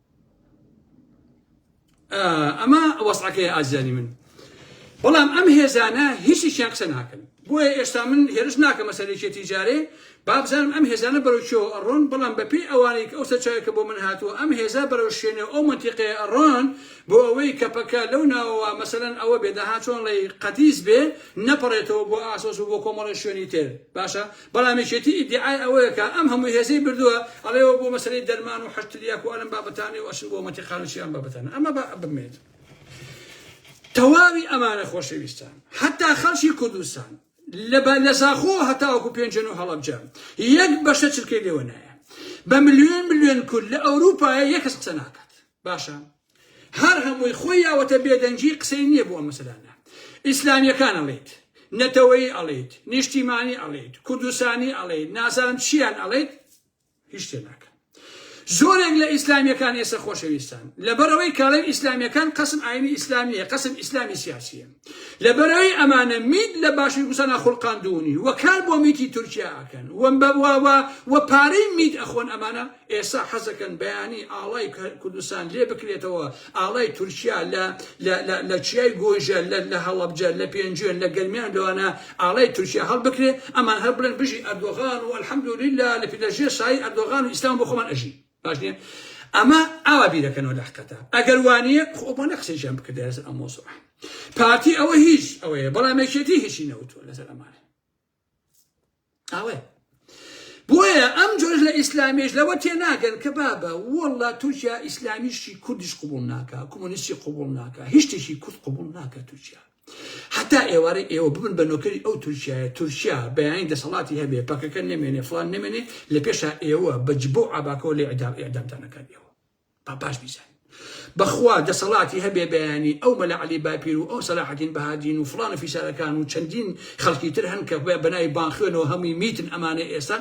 ئەمە وەسعەکەی ئازیزانی من بەڵام ئەم هێزانە هیچیان قسە ناکەن بۆیە ئێستا من هێرش ناکە مەسەرێکێتی جارێ بابزانم ئەم هێزانە بەرەوچەوە ئەڕۆن بەڵام بەپی ئەوانێک ئەو سەرچاوێکە بۆ من هاتووە ئەم هێزا بەرەو شوێنێ ئەو منتیقێ ئەڕۆن بۆ ئەوەی کە پەکە لەو ناوەوە مەسەن ئەوە بێداها چۆن ڵی قەتیس بێ نەپەڕێتەوە بۆ ئاسۆس و بۆ کۆمەڵی شوێنی تر باشە بەڵام یەکێتی ئیدیعای ئەوەیە کە ئەم هەموو هێزەی بردووە ئەڵێ وە بۆ مەسەلەی دەرمان و حەشد تلیاک و ئەلم بابەتانەی و ئەچن بۆ مەنتیقانە چی ئەم بابەتانە ئەمە با بمێنێت تەواوی ئەمانە خۆشەویستان حتا خەڵکی کوردستان لەبا لە زاخۆ هەتاوەکو پێنجن و هەڵەبجە یەک بەشە چرکەی لێوە نایە بە ملیۆن ملیۆن کورد لە ئەوروپایە یەکەس قسە ناکات باشە هەر هەمووی خۆی یاوەتە بێدەنگی قسەی نییە بۆ ئەم مەسەلانە ئیسلامیەکان ئەڵێیت نەتەوەی ئەڵێیت نیشتیمانی ئەڵێیت کوردستانی ئەڵێیت نازانم چیان ئەڵێیت هیچ شتێ ناکەن زۆرێک لە ئیسلامیەکان ئێستا خۆشەویستان لەبەرەوەی کاڵێن ئیسلامیەکان قسم ئاینی ئیسلامیە قسم ئیسلامی سیاسیە لەبەرەوەی ئەمانە میت لە باشی گوسانە خولقاندونی وەکار بۆ میتی تورکیا ئەکەن وەم بەواوە و پارەی میت ئەخۆن ئەمانە ئێستا حەزەکەن بەیانی ئاڵای کوردستان لێ بکرێتەوە، ئاڵای تورکیا لە لە لە لە چیای گۆیژە، لە لە هەڵەبجە، لە پێنجوێن، لە گەرمیان لەوانە ئاڵای تورکیا هەڵبکرێ، ئەمان هەر بڵێن بژی ئەردۆغان و الحمدللە لە لە ژێر سایەی ئەردۆغان و ئیسلام بۆ خۆمان ئەژین. باش نییە؟ ئەمە ئاوا بیرەکەنەوە لە حقتە. ئەگەر وا نییە خۆ ئەوان نە قسەیشیان بکردایە لەسەر ئەم مەوزوعە. پارتی ئەوە هیچ ئەوەیە، بەڵام یەکێتی هیچی نەوتووە لەسەر ئەمانە. ئەوەیە بۆیە ئەم جۆش لە ئیسلامیش لەوە تێ ناگەن کە بابە وەڵا تورکیا ئیسلامیشی کوردیش قوبول ناکە کۆمۆنیستی قوبول ناکە هیچتێکی کورد قوبول ناکە تورکیا حتا ئێوارە ئێوە ببن بە نۆکەری ئەو تورکایە تورکیا بەیانی دەسەڵاتی هەبێ پەکەکە نمێنێ فلان نمێنێ لە پێشا ئێوە بە جبۆ عباکەەوە لێ ئەدام ئەدامدانەکان ئێوە با باش بیزانین بەخوا دەسەڵاتی هەبێ بەیانی ئەو مەلا علی باپیر و ئەو سەلاحەتین بەهادین و فلان و فیسارەکان و چەندین خەڵکی تر هەن کە بە بەناوی بانخوێنەوە هەمووی میتن ئەمانە ئێستا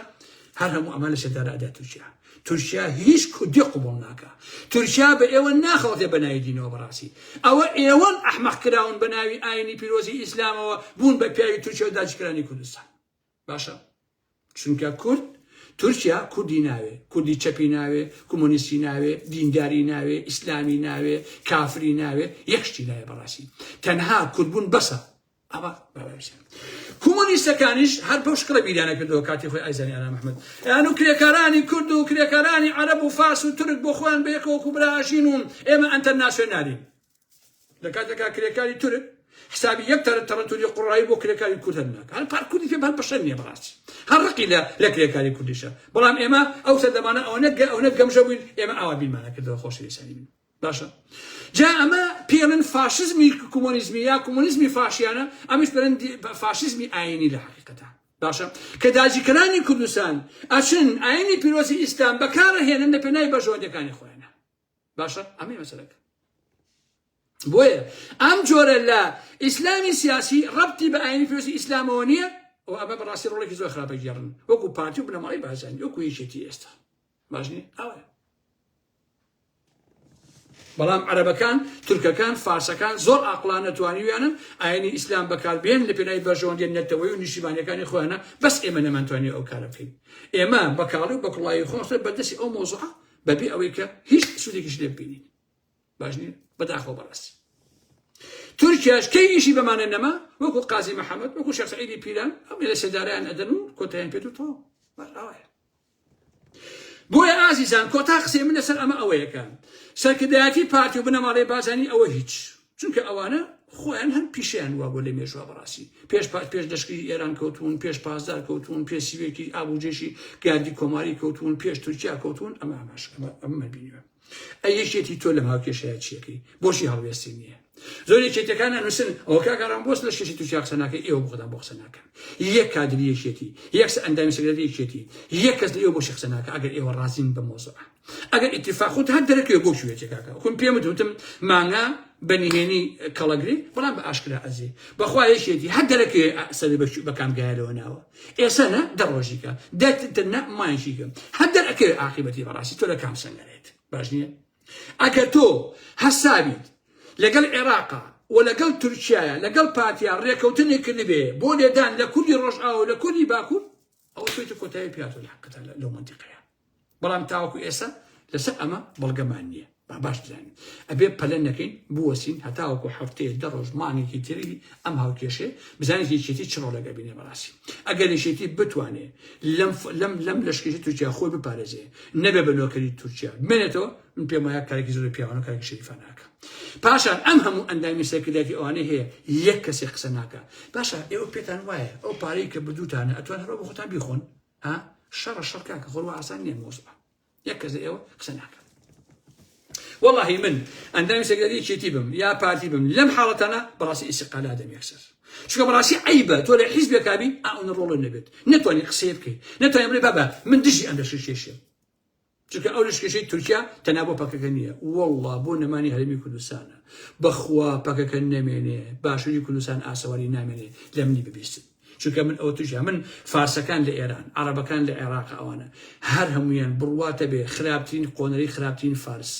هەر هەموو ئەمە لە سێدارەدا تورکیا تورکیا هیچ کوردی قوبڵ ناکە تورکیا بە ئێوە ناخەڵتێ بە ناوی دینەوە بەڕاستی ئەوە ئێوەن ئەحمەق کراون بە ناوی ئاینی پیرۆزی ئیسلامەوە بوون بە پیاوی تورکیا و داجکرانی کوردستان باشە چونکە کورد تورکیا کوردی ناوێ کوردی چەپی ناوێ کۆمۆنیستی ناوێ دینداری ناوێ ئیسلامی ناوێ کافری ناوێ یەکشتی ناوێ بەڕاستی تەنها کوردبوون بەسە ئەوە بەڕێزیان کۆمۆنیستەکانیش هەر بەو شکڵە بیریانە کردەوە کاتی خۆی ئایزانی ئارام ئەحمەد یان و کرێکارانی کورد و کرێکارانی عەرەب و فارس و تورک بۆ خۆیان بە یەکەوە کوبراژین و ئێمە ئەنتەرناسیۆنالین لە کاتێکا کرێکاری تورک حسابی یەک تەرە تەڕەتوری قوڕایی بۆ کرێکاری کورد هەر ناکە هەر پار کوردی پێ هەر بەشەر نییە بەڕاست هەر ڕقی لە لە کرێکاری کوردیشە بەڵام ئێمە ئەو سەردەمانە ئەوەنە گە ئەوەنە گەمژە بووین ئێمە ئاوا بیرمانە کردەوە خۆشەویستانی من باشە جا ئەمە پێڵن فاشزمی کۆمۆنیزمی یا کۆمۆنیزمی فاشیانە ئەمیش پێڵن فاشزمی ئاینی لە حقیقەتە باشە کە داجیکەرانی کوردستان ئەچن ئاینی پیرۆزی ئیسلام بەکارە هێنن لە پێنای بەژۆندەکانی خۆیان باشە ئەمەی مەسەلەکە بۆیە ئەم جۆرە لە ئیسلامی سیاسی ڕەتی بە ئاینی پێویستی ئیسلامەوە نییە و ئەمە بەڕاستی ڕۆڵێکی زۆر خراپە گێڕن وەکو پارتی و بنەماڵی بازانی وەکو یەکێتی ئێستا باشنی ئەوە بەڵام عەرەبەکان تورکەکان فارسەکان زۆر ئاقلان نەتوانیویانن ئاینی ئیسلام بەکاربێن لە پێنای بەژۆندێن نەتەوەی و نیشیمانەکانی خۆیانە بەس ئێمە نەمانتوانی ئەو کارە بکەین ئێمە بەکاڵی و بەکڵایی خۆشتر بەدەستی ئەو مۆزوع بەبێ ئەوەی کە هیچ سوودێکیش لێ ببینین باش نیە بەداخۆ بەڕاستی تورکیاش کەی ئیشی بەمانە نەما وەکو قازی محەممەد وەکو شخصعیدی پیران ئەم لە سێدارەیان ئەدەن و کۆتیان پێت و تۆ بەڕاوایە بۆیە ئازیزان کۆتا قسەی من لەسەر ئەمە ئەوەیەکە سەرکردایەتی پارتی و بنەماڵەی بازانی ئەوە هیچ چونکە ئەوانە خۆیان هەم پیشیان وا بۆ لە مێژوا بەڕاستی پێش پات پێش لەشکری ئێران کەوتون پێش پاسدار کەوتون پێ سیوێکی ئابوجێشی گاردی کۆماری کەوتون پێش تورکیا کەوتون ئەمە ئەماش ئەمە بینیوە ئەی یەکێتی تۆ لە هاوکێشەیە چیەکەی بۆشی هەڵوێستی نییە زۆر یەکێتەکان نووسن ئەوە کاگەڕان بۆست لە شێتی تورکیا قسەناکە ئێوە بخدا بۆ قسەناکە یەک کادری یەکێتی یەکس ئەندامی سەگرەتی یەکێتی یەک کەس لە ئێوە بۆشی قسەناکە ئەگەر ئێوە ڕازین بە مۆزەکان ئەگەر ئیتیفاق خۆت هەر دەرەکەوێ بۆ کوێتێ کاکە وەکم پێمت وتم مانگا بە نهێنی کەڵەگری بەڵام بە ئاشکرا ئەزی بەخوا یەکێتی هەر دەرەکوێ سەری بە کامگایەوە ناوە ئێستا نە دە ڕۆژیکە دەتتر نە مایشیکەم هەر دەرەکەوێ عاقیبەتی بەڕاستی تۆ لە کام سەنگەرێت باش نییە ئەگە تۆ هەسابیت لەگەڵ عێراقا و لەگەڵ تورکایە لەگەڵ پارتیا ڕێکەوتنی کردبێ بۆ لێدان لە کوردی ڕۆژئاوە لە کوردی باکوور ئەوە تۆی کۆتایی پیاتۆ لە حقتە لەو منتیقەیە بەڵام تاوەکو ئێستا لەسەر ئەمە بەڵگەمان نییە با باش بزانین ئەبێ پەلە نەکەین بوەسین هەتاوەکو هەفتەیە دە ڕۆژ مانێکی تری ئەم هاوکێشێ بزانێت یەکێتی چ ڕۆلێک ئەبینێ بەڕاستی ئەگەر یەکێتی بتوانێ لەم لەم لەم لەشکێتی تورکیا خۆی بپارێزێ نەبێ بە نۆکەری تورکیا بمێنێتەوە من پێم وایە کارێکی زۆر پیاوانە کارێکی شەریفاناکە پاشان ئەم هەموو ئەندامی سەرکردایەتی ئەوانەی هەیە یەک کەسێک قسە ناکە باشە ئێوە پێتان وایە ئەو پارەی کە بردووتانە ئەتوان هەرۆ بە خۆتان بیخۆن ئا شەڕە شەڕ کاکە خۆر وا ئاسان نییە مۆزبە یەک کەس لە ئێوە قسە ناکەم واللهی من ئەندامی سەگەری یەکێتی بم یا پارتی بم لەم حاڵەتانە بەڕاستی ئیسقالا دەم یەکسەر چونکە بەڕاستی عیبە تۆ لە حیزبێکابی ئەوە ڕۆڵ نەبێت نتوانانی قسەیە بکەیت نتوانانی بڵێ بابە من دژی ئەم لەشکێشێ چونکە ئەو لەشکێشەی تورکیا تەنها بۆ پەکەکە نییە وەڵڵا بۆ نەمانی هەرێمی کوردستانە بەخوا پەکەکە نەمێنێ باشووری کوردستان ئاسەواری نامێنێ لە منی ببیستن چونکە من ئەو توژە من فارسەکان لە ئێران عربەکان لە عێراق ئەوانە هەر هەمویان بڕواتە بێ خراپترین قۆنەری خراپترین فارس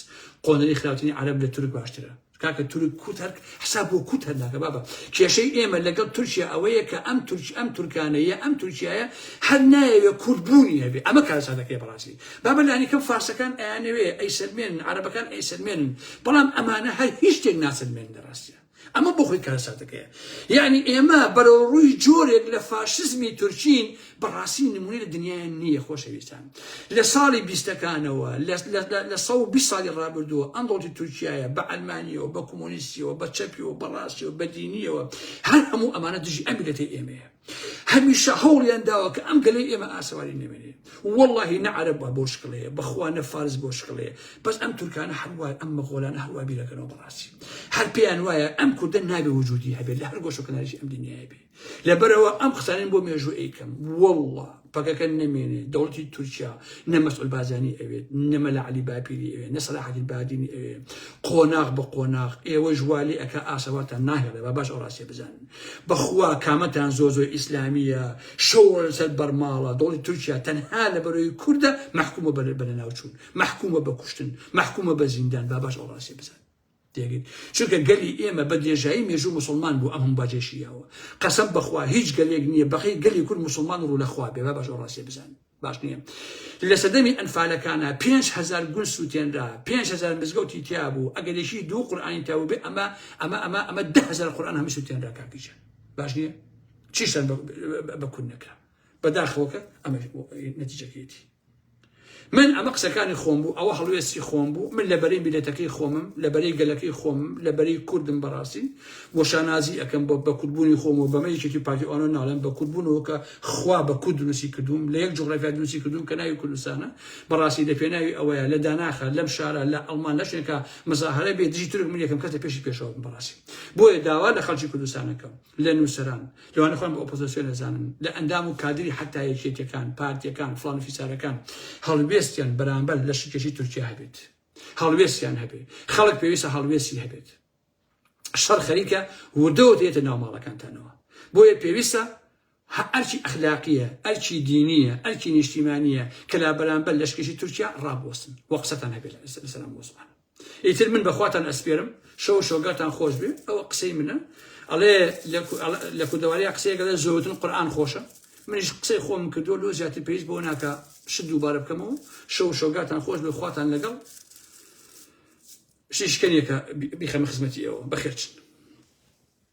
قۆنەری خراپترین عرب لە تورک باشترە کاکە تورک کوت هەر حساب بۆ کوت هەر ناکە بابە کێشەی ئێمە لەگەڵ تورکیا ئەوەیە کە ئەم تورک ئەم تورکانەیە ئەم تورکیایە هەر نایەوێ کورد بوونی هەبێ ئەمە کارساتەکەی بەڕاستی بابە لانیکەم فارسەکان ئەیانەوێ ئەی سلمێن عربەکان ئەی سلمێن بەڵام ئەمانە هەر هیچ شتێک ناسلمێن لە ڕاستە ئەمە بۆ خۆی کارساتەکەیە یعنی ئێمە بەرەو ڕووی جۆرێک لە فاشزمی تورکین بەڕاستی نمونەی لە دنیای نییە خۆشەویستان لە ساڵی بیستەکانەوە لە سە و بی ساڵی ڕابردووە ئەم دڵتی تورکایە بە ئەلمانیەوە بە کۆمۆنیستیەوە بە چەپیەوە بەڕاستیەوە بە دینیەوە هەر هەموو ئەمانە دژی ئەمیلەتی ئێمەیە هەمیشە هەوڵیان داوە کە ئەم گەلی ئێمە ئاسەواری نەمێنێ واللهی نەعرب بە بۆ شکڵێ بەخوا نە فارس بۆ شکڵێ بەس ئەم تورکانە هەروای ئەم مەغۆلانە هەروابیرەکەنەوە بەڕاستی هەر پێیان وایە ئەم کوردە نابێ وجودی هەبێت لە هەر گۆشەکەناریشی ئەم دنیای بێ لەبەرئەوە ئەم قسانەم بۆ مێژوو ئەیکەم واللە پەکەکە نەمێنێ دەوڵەتی تورکیا نە مەسعود بازانی ئەوێت نە مەلا عەلی باپیری ئەوێ نە سەلاح الدین بادینی ئەوێ قۆناغ بە قۆناغ ئێوەش وا لێ ئەکا ئاسەوارتان ناهێڵێ با باش ئەو ڕاستیە بزانن بەخوا کامەتان زۆر زۆر ئیسلامیە شەو لەسەر بەرماڵە دەوڵەتی تورکیا تەنها لە بەرەوەی کوردە مەحکومە بە بەناوچوون مەحکومە بە کوشتن مەحکومە بە زیندان با باش ئەو ڕاستیە بزانن دەگرت چونکە گەلی ئێمە بە درێژایی مێژوو موسڵمان بوو ئەم هەموو باجەی شیاوە قەسەم بەخوا هیچ گەلێک نییە بەقەی گەلی کورد موسڵمان و ڕوو لە خوا بێ با باش ئەو ڕاستیە بزانن باش نییە لە سەردەمی ئەنفالەکانە پێنج هەزار گول سووتێنرا پێنج هەزار مزگەوتی تیا بوو ئەگەر یەکی دوو قورئانی تیا بوو بێ ئەمە ئەمە ئەمە ئەمە ده هەزار قورئان هەمووی سووتێنرا کاک گیجان باش نییە چیشتان بە کورد نەکرا بەداخەوە کە ئەمە نەتیجەکەیەتی من ئەمە قسەکانی خۆم بوو ئەوە هەڵوێستی خۆم بوو من لە بەرەی میلەتەکەی خۆمم لە بەرەی گەلەکەی خۆم لە بەرەی کوردم بەڕاستی بۆ شانازی ئەەکەم بۆ بە کوردبوونی خۆم و بەمە یەکێتی پارتیوانە ناڵێن بە کوردبوونەوە کە خوا بە کورد دروستی کردوم لە یەک جوغرافیا دروستی کردوم کە ناوی کوردستانە بەڕاستی لە پێناوی ئەوەیە لە داناخە لەم شارە لە ئەڵمان لە شوێنکە مزاهرە بێ دژی تورک من یەکەم کەسە پێشی پێشەوە بەڕاستی بۆیە داوا لە خەڵکی کوردستانەکەم لە نووسەران، لەوانەی خۆیان بە ئۆپۆزۆسیۆن ئەزانن، لە ئەندام و کادری حەتتا یەکێتیەکان، پارتیەکان، فڵان و فیسارەکان، هەڵوێستیان بەرامبەر لەشکێشی تورکیا هەبێت. هەڵوێستیان هەبێت. خەڵک پێویستە هەڵوێستی هەبێت. شەڕ خەریکە وردەوە دێتە ناو ماڵەکانتانەوە. بۆیە پێویستە هە ئەرکی ئەخلاقییە، ئەرکی دینییە، ئەرکی نیشتیمانییە کە لە بەرامبەر لەشکرکێشی تورکیا ڕابوەستن و قسەتان هەبێ لەسەر ئەم مەوزوعانە. ئیتر من بە خواتان ئەسپێرم، شەو و شۆگاتان خۆش بێ، ئەوە قسەی منە، ئەڵێ لە کوردەوارییا قسەیەک ئەڵێ زۆرگوتن قورئان خۆشە، منیش قسەی خۆمم کردووە، لۆ زیاتر پێویست بەوە ناکا شت دووبارە بکەمەوە، شەو و شۆگاتان خۆش بێ، خواتان لەگەڵ شیشکەنێکە بیخەمە خزمەتی ئێوە، بەخێرچن.